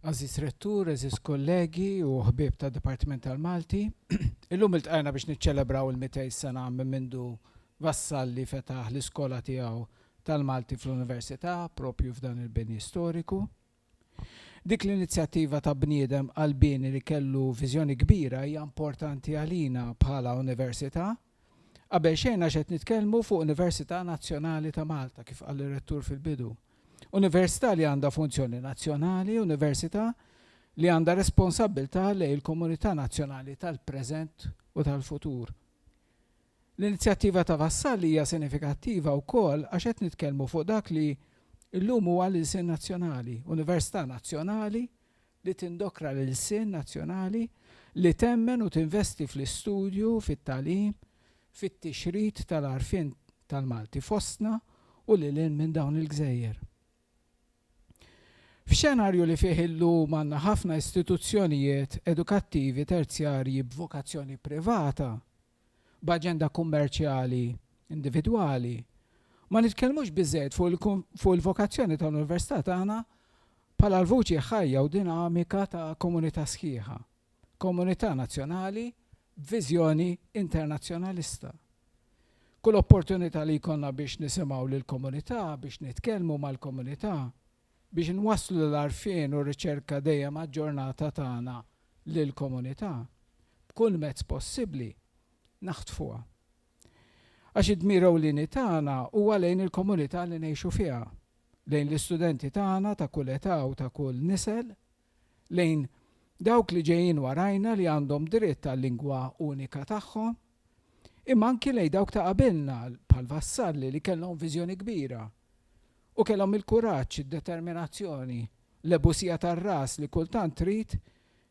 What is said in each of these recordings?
Għażiż Rettur, għeżież kollegi u ħbieb tad-Dipartiment tal-Malti, illum iltqajna biex niċċelebraw il-mitej sena minn mindu Vassalli fetaħ l-iskola tiegħu tal-Malti fl-Università proprju f'dan il-bini storiku. Dik l-inizjattiva ta' bniedem qalbieni li kellu viżjoni kbira hija importanti għalina bħala Università, Qabel xejn għax qed nitkellmu fuq Università Nazzjonali ta' Malta, kif qal ir-Rettur fil-bidu. Università li għandha funzjoni nazzjonali, Università li għandha responsabbiltà lejn il-komunità nazzjonali tal-preżent u tal-futur. L-inizjattiva ta' Vassalli hija sinifikattiva wkoll għax qed nitkellmu fuq dak li llum huwa l-ilsien nazzjonali, Università Nazzjonali li tindokra l-ilsien nazzjonali, li temmen u tinvesti fl-istudju, fit-tagħlim, fit-tixrid tal-għarfien tal-Malti fostna u lil hinn minn dawn il-gżejjer. F'xenarju li fih illum għandna ħafna istituzzjonijiet edukattivi terzjarji b'vokazzjoni privata, b'aġenda kummerċjali individwali, ma nitkellmux biżżejjed fuq il-vokazzjoni tal-Università tagħna bħala l-vuċi ħajja u dinamika ta' komunità sħiħa, komunità nazzjonali b'viżjoni internazzjonalista. Kull opportunità li jkollna biex nisimgħu lill-komunità, biex nitkellmu mal-komunità, biex nwasslu l-għarfien u r-riċerka dejjem aġġornata tagħna lill-komunità, b'kull mezz possibbli, naħtfuha. Għax id-dmir ewlieni tagħna huwa lejn il-komunità li ngħixu fiha, lejn l-istudenti tagħna ta' kull età u ta' kull nisel, lejn dawk li ġejjin warajna li għandhom dritt għal-lingwa unika tagħhom, imma anki lejn dawk ta' qabilna bħal Vassalli li kellhom viżjoni kbira u kellhom il-kuraġġ, id-determinazzjoni, l-ebusija tar-ras li kultant trid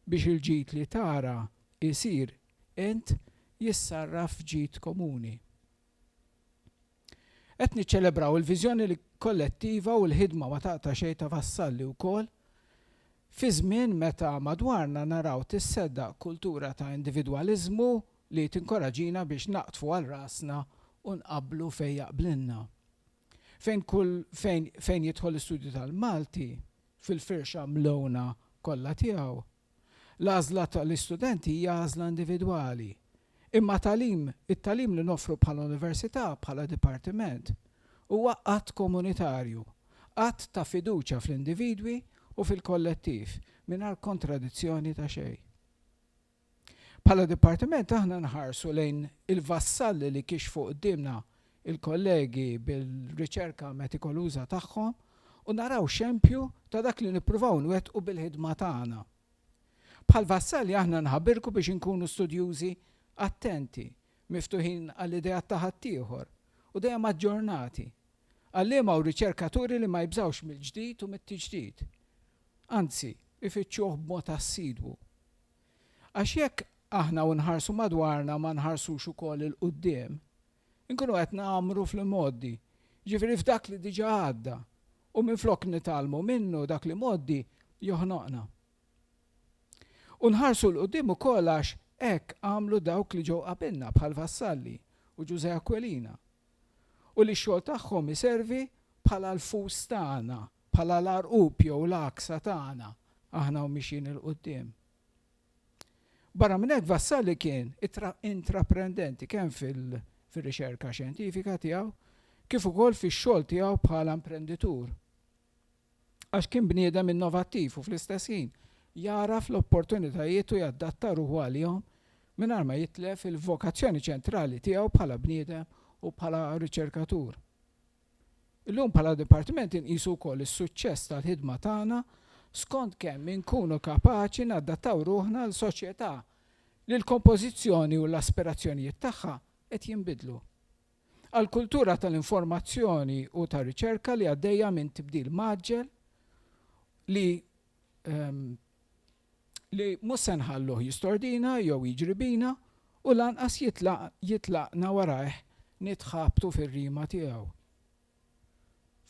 biex il-ġid li tara jsir int jissarraf f'ġid komuni. Qed niċċelebraw il-viżjoni kollettiva u l-ħidma ma taqta' xejn ta' Vassalli wkoll fi żmien meta madwarna naraw tisseddaq kultura ta' individwaliżmu li tinkoraġina biex naqdfu għal rasna u nqabblu fejn jaqblilna. Fejn kull fejn fejn jidħol l-Istudju tal-Malti, fil-firxa mlewna kollha tiegħu, L-għażla ta' l-istudenti hija għażla individwali. Imma tagħlim, it-tagħlim li noffru bħala Università, bħala Dipartiment, huwa att komunitarju, att ta' fiduċja fl-individwi u fil-kollettiv, mingħajr kontradizzjoni ta' xejn. Bħala Dipartiment aħna nħarsu lejn il-vassalli li kixfu quddiemna il-kollegi bil-riċerka metikoluża tagħhom u naraw xempju ta' dak li nippruvaw nwettqu bil-ħidma tagħna. Bħal Vassalli aħna nħabirku biex inkunu studjużi attenti, miftuħin għall-ideat ta' ħaddieħor, u dejjem aġġornati. Għalliema u riċerkaturi li ma jibżgħux mill-ġdid u mit-tiġdid. Anzi, ifittxuh b'mod assidwu. Għax jekk aħna u nħarsu madwarna ma nħarsux ukoll 'il quddiem, inkunu qed ngħammru fl-imgħoddi, jiġifieri f'dak li diġà għadda, u minflok nitgħallmu minnu dak l-imgħoddi joħnoqna. U nħarsu 'l quddiem ukoll għax hekk għamlu dawk li ġew qabilna bħal Vassalli u Ġużè Aquilina, u li x-xogħol tagħhom iservi bħala l-fus tagħna, bħala l-għarqub jew l-għaksa tagħna, aħna u mixjin 'il quddiem. Barra minn hekk Vassalli kien intraprendenti kemm fir-riċerka xjentifika tiegħu kif ukoll fix-xogħol tiegħu bħala imprenditur għax kien bniedem innovattiv u fl-istess ħin jagħraf l-opportunitajiet u jadatta ruħu għalihom mingħajr ma jitlef il-vokazzjoni ċentrali tiegħu bħala bniedem u bħala riċerkatur. Illum bħala Dipartiment inqisu wkoll is-suċċess tal-ħidma tagħna skont kemm inkunu kapaċi nadattaw ruħna għal soċjetà li l-kompożizzjoni u l-aspirazzjonijiet tagħha qed jinbidlu. Għal kultura tal-informazzjoni u tar-riċerka li għaddejja minn tibdil mgħaġġel li li mhux se nħalluh jistordina jew jiġri bina u lanqas jitlaq jitlaqna warajh nitħabtu fir-rima tiegħu.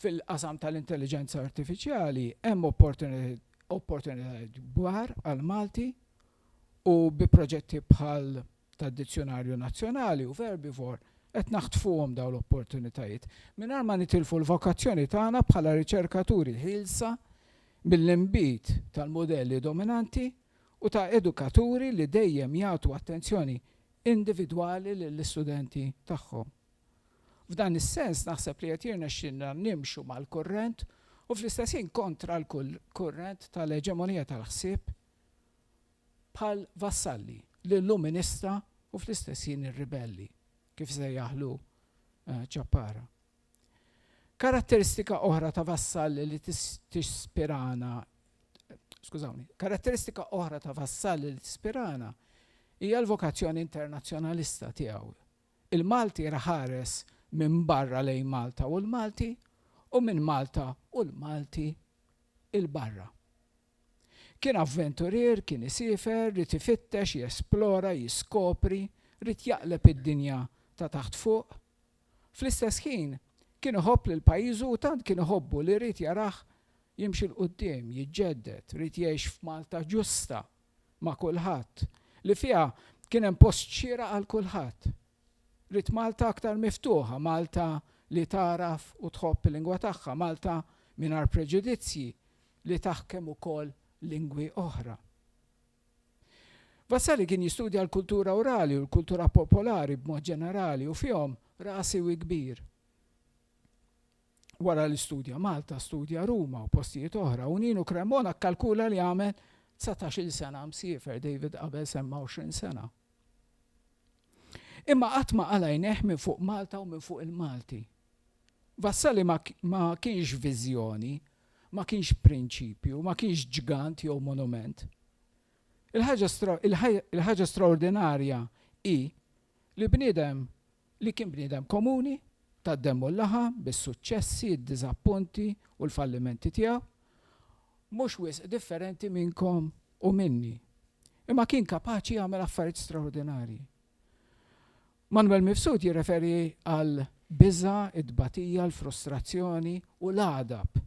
Fil-qasam tal-intelliġenza artifiċjali hemm opportunitajiet kbar għall-Malti u bi proġetti bħal tad-dizzjunarju nazzjonali u verbivore, qed naħtfuhom dawn l-opportunitajiet, mingħajr ma nitilfu l-vokazzjoni tagħna bħala riċerkaturi ħielsa mill-inbid tal-mudelli dominanti u ta' edukaturi li dejjem jagħtu attenzjoni individwali lill-istudenti tagħhom. F'dan is-sens naħseb li qed jirnexxilna nimxu mal-kurrent u fl-istess ħin kontra l-kurrent tal-eġemonija tal-ħsieb bħal vassalli li llum ministra u fl-istess ħin ir-ribelli, kif sejjaħlu Ciappara. Karatteristika oħra ta' vassalli li tispirana skużawni, karatteristika oħra ta' vassalli li tispirana hija l-vokazzjoni internazzjonalista tiegħu. Il-Malti raħares minn barra lejn Malta u l-Malti u minn Malta u l-Malti il-barra. Kien avventurier, kien isiefer, ried ifittex, jesplora, jiskopri, ried jaqleb id-dinja ta' taħt fuq. Fl-istess ħin, kien iħobb lil pajjiżu u tant kien iħobbu li ried jarah jimxi 'l quddiem, jiġġedded, ried jgħix f'Malta ġusta ma' kulħadd, li fiha kien hemm post xieraq għal kulħadd. Ried Malta aktar miftuħa, Malta li tagħraf u tħobb il-lingwa tagħha, Malta mingħajr preġudizzji, li taħkem ukoll lingwi oħra. Vasari kien jistudja l-kultura orali u l-kultura popolari b'mod ġenerali u fihom ra siwi kbir. Wara li studja Malta, studja Ruma u postijiet oħra u Ninu Cremona kkalkula li għamel dsatax-il sena msiefer, David qabel semma għoxrin sena. Imma qatt ma qala' għajnejh minn fuq Malta u minn fuq il-Malti. Vassali ma kienx viżjoni Ma kienx prinċipju, ma kienx ġgant jew monument. Il-ħaġa straordinarja hi li bniedem li kien bniedem komuni, tad-demm u l-laħam, bis-suċċessi, d-diżappunti u l-fallimenti tiegħu, mhux wisq differenti minnkom u minni, imma kien kapaċi jagħmel affarijiet straordinarji. Manwel Mifsud jirreferi għal biża', it-tbatija, l-frustrazzjoni u l-għadab,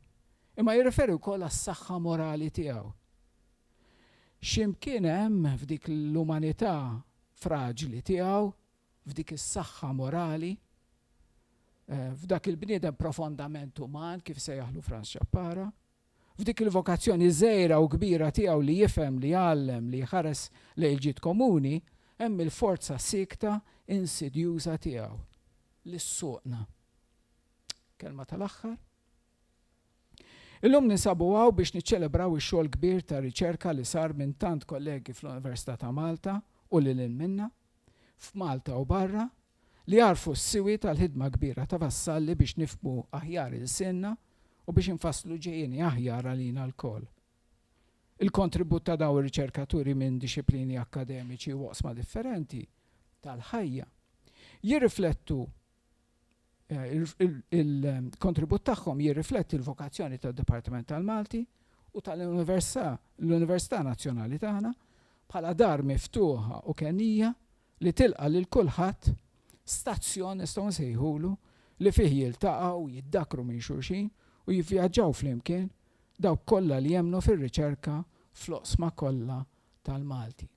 imma jirreferi wkoll għas-saħħa morali tiegħu. Xi mkien hemm f'dik l-umanità fraġli tiegħu, f'dik is-saħħa morali, f'dak il-bniedem profondament uman, kif sejjaħlu Franz Chappara, f'dik il-vokazzjoni żgħira u kbira tiegħu li jifhem, li jgħallem, li jħares lejn il-ġid komuni, hemm il-forza siekta insidjuża tiegħu li ssuqna. Kelma tal-aħħar. Illum ninsabu hawn biex niċċelebraw ix-xogħol kbir ta' riċerka li sar minn tant kollegi fl-Università ta' Malta u lil hinn minnha, f'Malta u barra, li jagħrfu s-siwi tal-ħidma kbira ta' Vassalli biex nifhmu aħjar ilsienna u biex infasslu ġejjieni aħjar għalina lkoll. Il-kontribut ta' dawn ir-riċerkaturi minn dixxiplini akkademiċi u oqsma differenti tal-ħajja jirriflettu il-kontribut tagħhom jirrifletti l-vokazzjoni tad-Dipartiment tal-Malti u tal-Università Nazzjonali tagħna bħala dar miftuħa u kenija li tilqa' lil kulħadd, stazzjon nistgħu nsejħulu, li fih jiltaqgħu, jiddakkru minn xulxin u jivvjaġġaw flimkien dawk kollha li jemmnu fir-riċerka fl-oqsma kollha tal-Malti.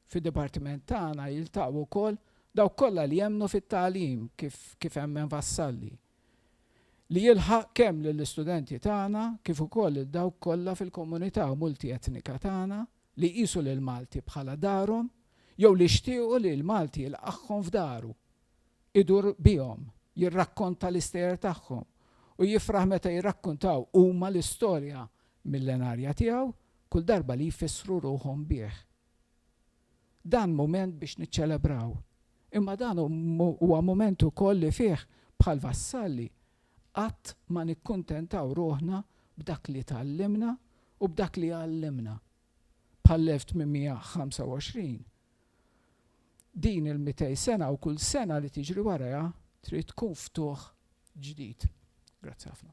Fid-dipartiment tagħna jiltaqgħu wkoll dawk kollha li jemmnu fit-tagħlim kif kif emmen Vassalli, li jilħaq kemm lill-istudenti tagħna kif ukoll lil dawk kollha fil-komunità multietnika tagħna li jqisu lill-Malti bħala darhom jew li jxtiequ li l-Malti jilqagħhom f'daru, idur bihom, jirrakkonta l-istejjer tagħhom u jifraħ meta jirrakkuntaw huma l-istorja millenarja tiegħu kull darba li jfissru ruħhom bih. Dan mument biex niċċelebraw Imma dan huwa mument ukoll li fih, bħal Vassalli, qatt ma nikkuntentaw ruħna b'dak li tgħallimna u b'dak li għallimna, bħall-1825. Din il-mitej sena u kull sena li tiġri warajha trid tkun ftuħ ġdid. Grazzi ħafna.